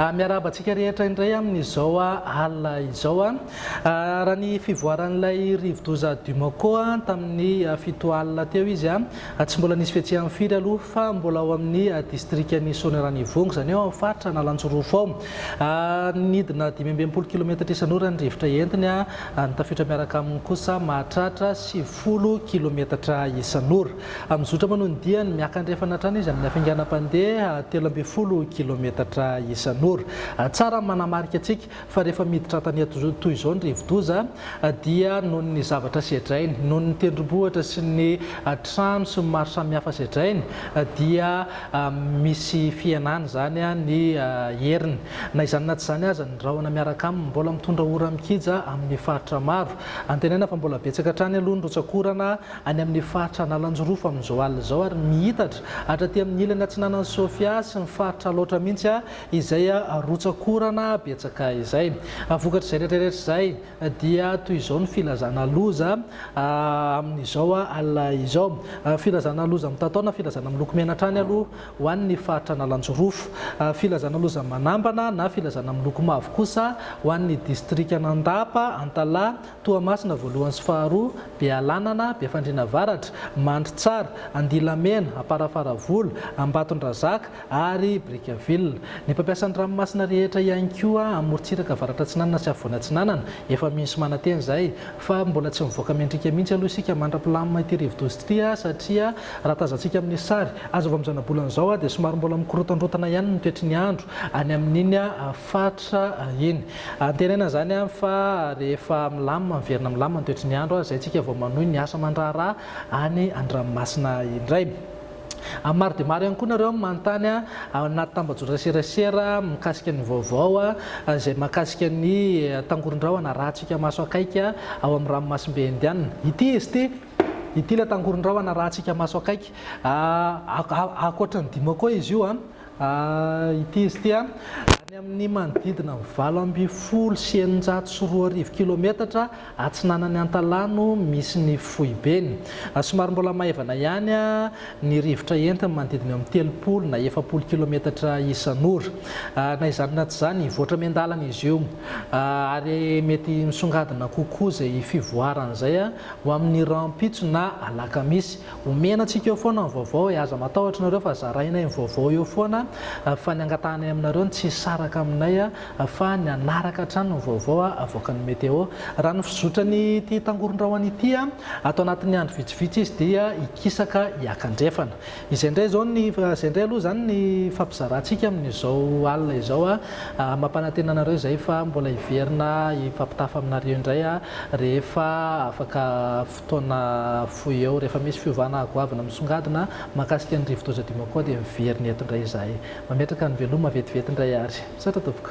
Miarahaba antsika rehetra indray amin'izao alina izao. Raha ny fivoaran'ilay rivodoza Dumoko tamin'ny fito alina teo izy, tsy mbola nisy fihetseham firy aloha fa mbola ao amin'ny distrikan'i Soanierana Ivongo, izany hoe ao amin'ny faritra Analanjirofo ao. Nidina dimy amby enimpolo kilometatra isan'ora ny rivotra entiny, ny tafiotra miaraka aminy kosa mahatratra sivifolo kilometatra isan'ora. Amin'ny zotra manao ny diany, miaka-andrefana hatrany izy amin'ny hafainganam-pandeha telo ambin'ny folo kilaometatra isan'ora. Tsara ny manamarika antsika fa rehefa miditra an-tanety toy izao ny rivodoza dia noho ny zavatra sedrainy, noho ny tendrombohitra sy ny trano sy ny maro samihafa sedrainy dia misy fihenana izany ny heriny. Na izany na tsy izany aza, ny rahona miaraka aminy mbola mitondra ora mikija amin'ny faritra maro. Antenaina fa mbola betsaka hatrany aloha ny rotsak'orana any amin'ny faritra Analanjirofo amin'izao alina izao ary miitatra hatraty amin'ny ilany atsinanan'i Sofia sy ny faritra Alaotra mihitsy izay rotsakorana betsaka izay. Vokatrizay rehetra rehetra izay dia toy izao ny filazana loza amin'izao alina izao. Filazana loza mitatao na filazana miloko mena hatrany aloha ho an'ny faritra Analanjirofo. Filazana loza manambana na filazana miloko mavo kosa ho an'ny distrikan'Andapa, Antalaha, Toamasina voalohany sy faharoa, Bealanana, Befandriana avaratra, Mandritsara, Andilamena, Amparafaravola, Ambatondrazaka ary Brickaville. Ny mpampiasa ny ranomasina rehetra ihany koa amin'ny morontsiraka avaratra-atsinanana sy afovoany atsinanana, efa misy manantena izay. Fa mbola tsy mivoaka mendrika mihitsy aloha isika mandra-pilamina ity rivodoza ity satria raha tazantsika amin'ny sary azo avy amin'ny zanabolana izao dia somary mbola mikorontandrontana ihany ny toetry ny andro any amin'iny Faritra iny. Antenaina izany fa rehefa milamina, miverina milamina ny toetry ny andro, izay isika vao manohy ny asa aman-draharaha any an-dranomasina indray. Maro dia maro ihany koa nareo no manontany ahy ao anaty tambajotran serasera mikasika ny vaovao izay mahakasika ny tangoron-drahona arahantsika maso akaiky ao amin'ny ranomasimbe Indiana. Ity izy ity, ity ilay tangoron-drahona arahantsika maso akaiky. Ankoatran'ny dimo koa izy io. A Ity izy ity a, any amin' ny manodidina ny valo ambin'ny folo sy eninjato sy roa arivo kilometatra atsinanan' i Antalaha no misy ny foibeny. Somary mbola maivana ihany ny rivotra entiny, manodidina eo amin'ny telopolo na efapolo kilometatra isan' ora. Na izany na tsy izany, hivoatra miandalana izy io, ary mety misongadina kokoa izay fivoarany izay ho amin'ny rahampitso na alakamisy. Omena antsika eo foana ny vaovao e, aza matahotra nareo fa zarainay ny vaovao eo foana fa ny angatahanay aminareo ny tsy hisaraka aminay fa ny hanaraka hatrany ny vaovao avoakan'ny Meteo. Raha ny fizotran'ny ity tangoron-drahona ity, ato anatin'ny andro vitsivitsy izy dia hikisaka hiaka andrefana. Izay indray izao ny, izay indray aloha izany ny ifampizarantsika amin'izao alina izao. Mampanantena anareo izay fa mbola hiverina hifampitafa aminareo indray rehefa afaka. taona fohy eo. Rehefa misy fiovana goavana misongadina mahakasika ny rivodoza Dimokwa dia miverina eto indray izahay. Mametraka ny veloma vetivety indray ary. Misaotra tompoko.